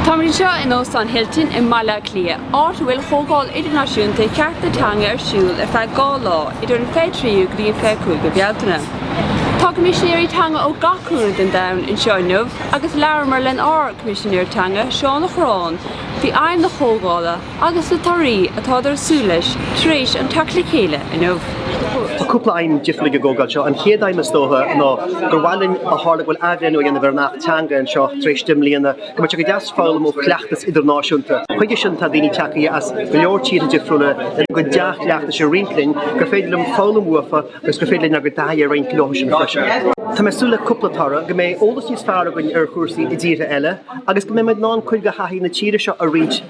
Tá muid anseo in Óstán Hilton i mBaile Átha Cliath, áit a bhfuil Comhdháil Idirnáisiúnta Chearta Teanga ar siúl ar feadh dhá lá idir an 23ú go dtí an 25ú Bealtaine. Tá Coimisinéirí Teanga ó gach cúinne den domhan anseo inniu agus labhramar len ár gCoimisinéir Teanga, Seán Ó Cuirreáin, faoi aidhm na Comhdhála, agus na torthaí atáthar ag súil leis tar éis an teacht le chéile inniu. Tá cúpla aidhm difriúil ag an gcomhdháil seo. An chéad aidhm is dócha ná gur mhaith linn, ó tharla go bhfuil athbhreithniú á dhéanamh ar an Acht Teanga anseo tar éis deich mbliana, go mbeadh sé go deas foghlaim ó chleachtas idirnáisiúnta. Chuige sin tá daoine teacaithe as go leor tíortha difriúla lena gcuid dea-chleachtais a roinnt linn, gur féidir linn foghlaim uafa agus gur féidir linn ár gcuid taithí a roinnt leothusan freisin. Tá mé ag súil le cúpla toradh, go mbeidh eolas níos fearr againn ar chúrsaí i dtíortha eile agus go mbeimid in ann cuid de thaithí na tíre seo a roinnt,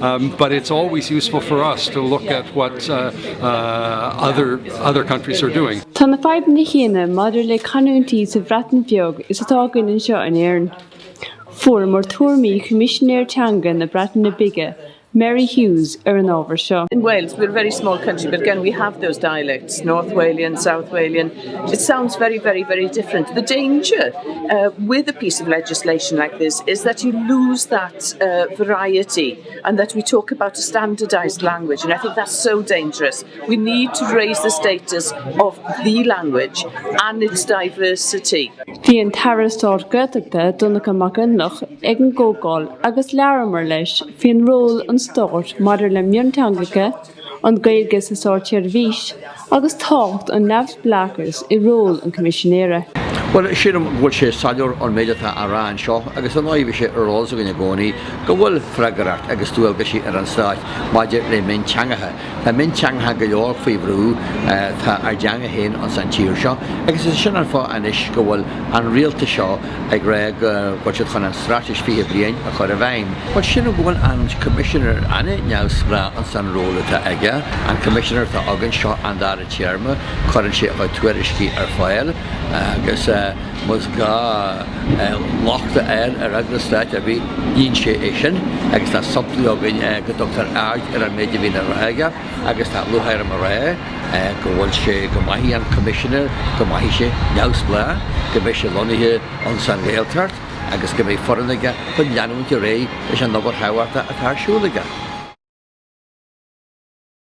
Um, but it's always useful for us to look at what uh, uh, other, other countries are doing. Tá na fadhbanna chéanna maidir le canúintí sa Bhreatain Bheag is atá againn anseo in Éirinn. Fuaireamar tuairimí Choimisinéir Teanga na Breataine Bige, Meri Huws, ar an ábhar seo. In Wales, we're a very small country, but again we have those dialects, North Walian, South Walian, It sounds very, very, very different. The danger with a piece of legislation like this is that you lose that variety and that we talk about a standardised language and I think that's so dangerous. We need to raise the status of the language and its diversity. Bhí an tAire Stáit Gaeltachta Donncha McConalogue ag an gcomhdháil agus labhramar leis faoin ról an stáit maidir le mionteangacha, an Ghaeilge sa státseirbhís agus tábhacht an neamhspleáchais i ról an Choimisinéara. Bhuel, sílim go bhfuil sé soiléir ón méid atá á rá anseo agus ar ndóigh bhí sé ar eolas againn i gcónaí go bhfuil freagracht agus dualgaisí ar an Stát maidir le mionteangacha. Tá mionteangacha go leor faoi bhrú, tá ár dteanga féin ins an tír seo agus is é sin an fáth anois go bhfuil an Rialtas seo, ag rá go bhfuil siad chun an Straitéis 20 Bliain a chur i bhfeidhm. Bhuel, sin go bhfuil an Coimisinéir an-neamhspleách ins an ról atá aige, an Coimisinéir atá againn, seo an dara téarma, cuireann sé a chuid tuairiscí ar fáil agus más gá locht a fháil ar eagrais stáit ar bith, ghníonn sé é sin agus tá samplaí againn go dtugtar aird ar an méid a bhíonn á rá aige agus tá lúcháir orm a rá. go bhfuil sé, go mbeidh an Coimisinéir, go mbeidh sé, neamhspleách, go mbeidh sé lonnaithe ins an Ghaeltacht agus go mbeidh foireann aige chun leanúint ar aghaidh leis an obair thábhachtach atá ar siúl aige.